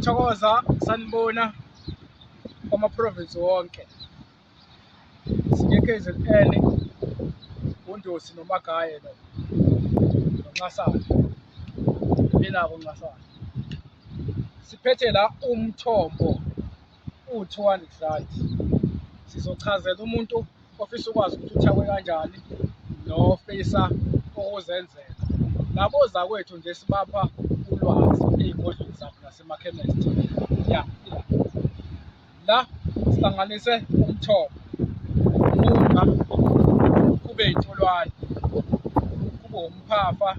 Thokoza sanibona kwama province wonke sike KZN uNdosi noMagaye lo nonxasana benako nxasana siphethe la umthombo u-200 rand sizochazela umuntu ofisa ukwazi ukuthi uthakwe kanjani nofisa ukuzenzela labo zakwethu nje sibapha ulwazi ey'godlweni zabo nasemakhemesti ya la sihlanganise umthombo uma kube yintolwane kube umphafa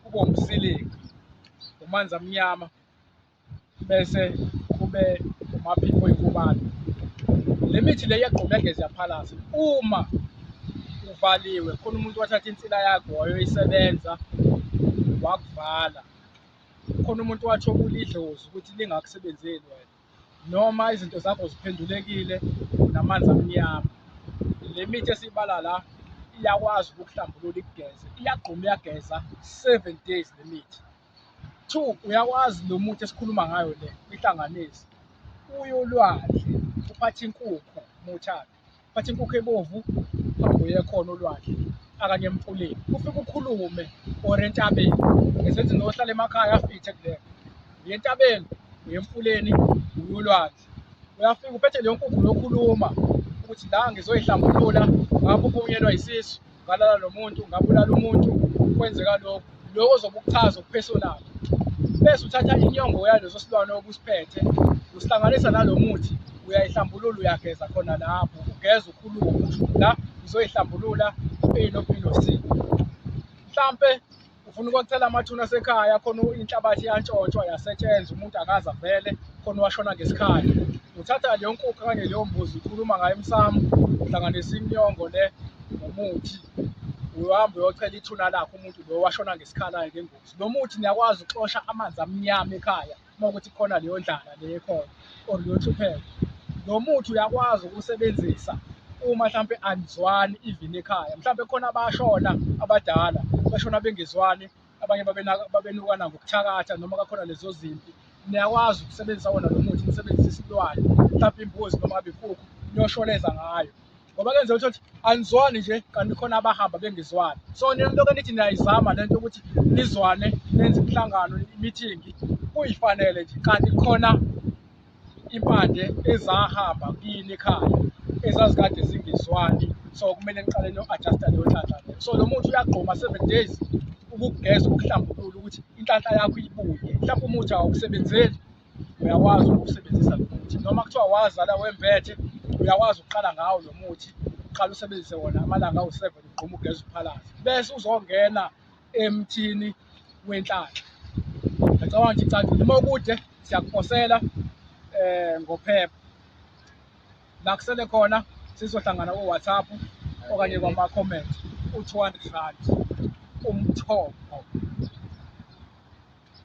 kube umsilinga umanzi amnyama bese kube umaphiko oyikubani le mithi le iyagqumegeza yaphalasa uma uvaliwe khona umuntu wathatha insila yakho wayoyisebenza wakuvala khona umuntu wathi okulidlozi ukuthi lingakusebenzeli wena noma izinto zakho ziphendulekile namanzi amnyama le mithi esiyibala la iyakwazi ukuhlambulula ikugeze iyagquma iyageza seven days le mithi Two, uyakwazi lo muthi esikhuluma ngayo le ihlanganisi uyolwandle uphatha inkukhu muthaphi uphatha inkukhu ebovu uye khona olwandle akanye emfuleni ufike ukhulume or entabeni ngesenzi nohlala emakhaya afithe kulena uye entabeni uye emfuleni uyolwandle isikhathi uyafika uphethe leyo nkukhu nokhuluma ukuthi la ngizoyihlambulula ngabe ubunyelwa yisisu ngalala lo muntu ngabulala umuntu kwenzeka lokhu lokho ozobe ukuchaza ukupersonal bese uthatha inyongo yaleso silwane obusiphethe usihlanganisa nalo muthi uyayihlambulula uyageza khona lapho ugeza ukhuluma ukuthi la ngizoyihlambulula inophilo sini mhlampe ufuna ukwacela amathuna asekhaya khona inhlabathi yantshontshwa yasetshenzwa umuntu akaza vele khona washona ngesikhathi uthatha leyo nkukhu kanye leyo mbuzi ukhuluma ngayo emsamo uhlanganisa imnyongo le ngomuthi uhambe uyocela ithuna lakho umuntu lo washona ngesikhala-ke ngengozi lo muthi niyakwazi ukuxosha amanzi amnyama ekhaya uma ukuthi khona leyo ndlala le ekhona or leyo nhlupheko lo muthi uyakwazi ukusebenzisa uma mhlampe anizwani even ekhaya mhlampe khona abashona abadala bashona bengezwani abanye babenukana ngokuthakatha noma kakhona lezo zimpi niyakwazi ukusebenzisa wona lo muthi nisebenzise isilwane mhlampe imbuzi noma ngabe inkukhu niyoshoneza ngayo ngoba kuyenzeka ukuthi othi anizwani nje kanti khona abahamba bengizwani so nilokho nithi niyayizama lento ukuthi nizwane nenze imihlangano imithingi kuyifanele nje kanti khona impande ezahamba kini ekhaya ezazikade zingizwani so kumele niqale no-adjusta leyo nhlanhla leyo so lo muntu uyagqoma seven days ukugeza ukuhlambulula ukuthi inhlanhla yakho ibuye mhlawumbe umuthi awukusebenzeli uyakwazi ukusebenzisa lo muthi noma kuthiwa wazala wembethe uyakwazi ukuqala ngawo lo muthi uqala usebenzise wona amalanga awu-seven ugquma ugeza uphalaza bese uzongena emthini wenhlanhla ngicabanga nje icacile uma ukude siyakuphosela um ngophepha la kusele khona sizohlangana ko-whatsapp okanye kwama-comment u-two hundred rand umthombo